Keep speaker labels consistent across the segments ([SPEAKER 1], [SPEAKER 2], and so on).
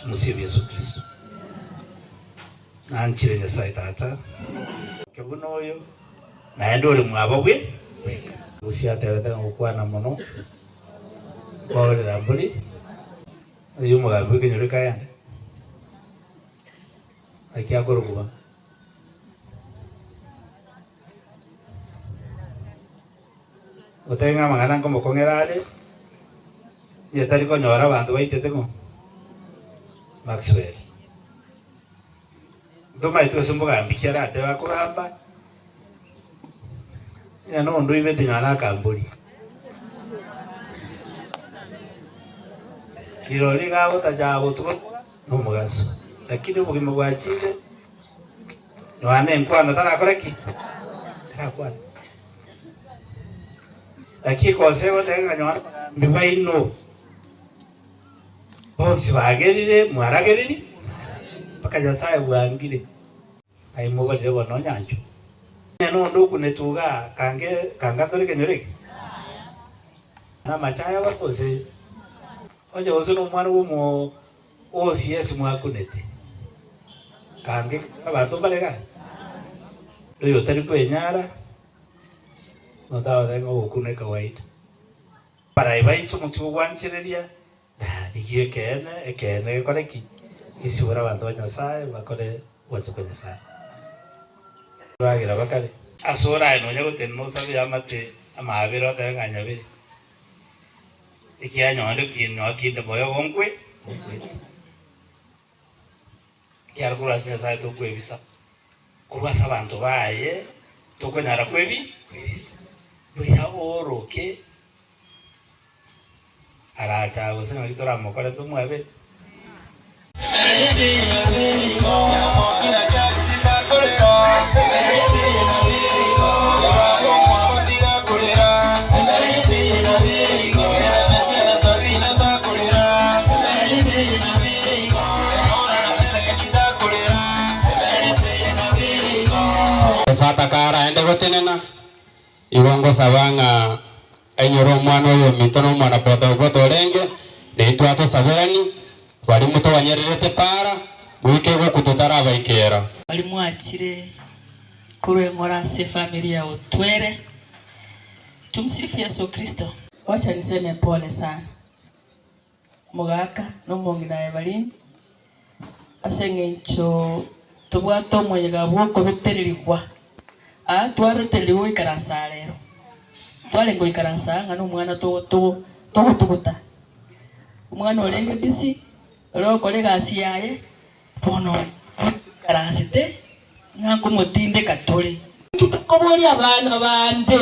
[SPEAKER 1] Mosiobi Yesu Kristo, nanchire Nyasae Tata, omoke buna oyo, naende ore mwabo bwe bweka. Bosio atebete ng'a gokwana mono nkoorera mbori oyo omogambi bw'ekenyoro kegende, naki akorokuba. Otebe ng'a amang'ana nkomokong'era are, nigo tari konyora abanto baitete ng'o? Maxwell. Ntomanye tweswe mbogambi ki aratebe akogamba, onye na ondoibete nyora akambori. Rirorio iga agotacha botuko. Nomogaso, lakini obogima bwachire nonya nenkwano tarakore ki? Tarakwane. Naki gose goteba ng'a nonya abagambi baino bonsi bagerire, mwarageriri? Mpaka Nyasae bwangire. Aye mobarire bono onyanchwe. Onye nonde okunete uga kange kangatore ekenyoro eke, namache ayaba gose onye gose nomwana bw'omonto o CS mwakunete, kange abanto mbare gake, noyo otari kwenyara notagotebi ng'a ogokuna ekawaida. Abarayi baito motigwe gwanchereria Na rigia ekeene ekeene gekore ki? Gesibore abanto ba Nyasae bakore ogwancha kwa Nyasae. Eboragera bakare. Asore aye nonya gotenena osabe y'amate amabere otebe ng'a nyabere. Ekianyore kinde moyo gonkwe, nikwete. ekiagera korwa ase Nyasae tokwebisa, korwa ase abanto baye tokonyara kwebi kwebisa. Buya ooroke aracha gose naki toramokore tomwabere. Efata karaende gotenena, igo ngosaba ng'a ainyore omwana oyo ominto na omwana potopoto orenge naintwe atosaberani, baria motoganyererete para, goika egokwa totarabaika ero. Baria mwachire
[SPEAKER 2] korwa eng'ora ase efamiri ya Otwere. Tumsifu Yesu Kristo. Wacha niseme pole sana. Omogaka na omong'ina aye bari ime, ase eng'encho tobwate omonyega bw'okobetererigwa. Aa twabetererigwe goikaransa aa rero, twarenge goikaransa aa ng'a nomwana togo togo togotuguta. Omwana orenge busy ore gokora egasi yaye, bono aransete ng'a nkomotindeka tore. Nki tokoboria abana bande?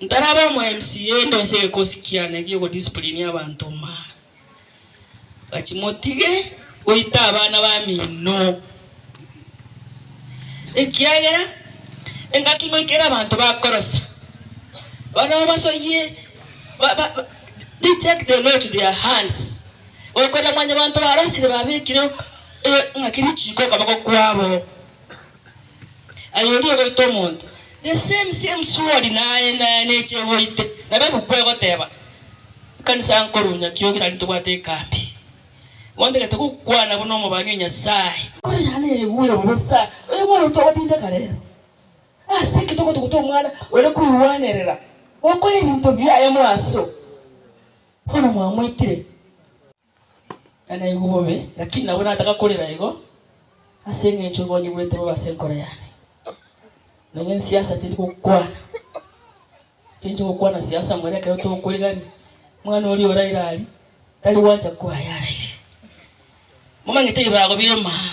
[SPEAKER 2] Ntarabe omo MCA ndose egekosi kiane egi'ogodisciplinia abanto maa. Bwachie motige goita abana bamino. Ekiagera engaki ngoikera abanto bakorosa, barabwo babasoyie ba ba they take the law to their hands. Okorora mwanyabanto barosire babekire engaki richiko okoboko kwabo. Aye onde ogoita omonto, the same same sword naye naye neche egoite. Nabo ebuku egoteba, ekanisa ya nkoro Nyakiroge naende tobwate ekambi. Bontagete gokwana buna omobani o Nyasaye. Kore yane yaigure bobe sa oyo moyo togotindeka rero. Ase ki togotuguta omwana ore koigwanerera gokora ebinto biaye moaso bono mwamoitire? Naigwe bobe, lakini nabo nataka korera igo, ase engencho obonyigwete bobe ase enkoro yane. Nonya ensiasa tindi gokwana, chinche gokwana siasa more ekero tokorigania, mwana oria oraire aria, tari gwancha koa yaraire. Momanyete ebibago bire maa.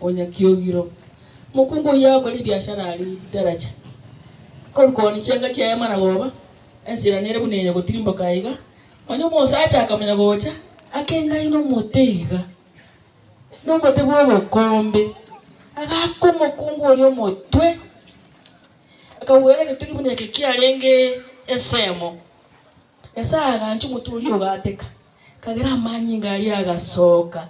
[SPEAKER 2] o Nyakiogiro. Mokungu oyio akore ebiashara are Idaracha. Korwa kooni chianga chia Hema na goba, ensera nere buna eye gotirimboka aiga, onye omosacha akamonya gocha, akengae nomote iga, nomote bw'obokombe, agaaka omokungu oria omotwe, akagwera egetugi buna eke kiarenge ensemo. Nyasae agancha omotwe oria ogateka, kagera amanyinga aria agasooka.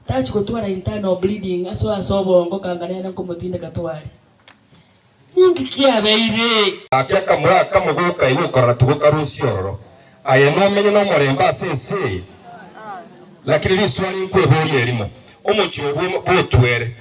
[SPEAKER 2] Tachi gotwara internal bleeding aso ase obongo kanga nere nkomotindeka twari. Ninki kiabeire? Gaki akamura
[SPEAKER 3] akamo goka igo okorora tigo kare osie ororo aye nomenye nomorembe ase ense eye. Lakini riswali nkweborie erimo, omochie obwo bwotwere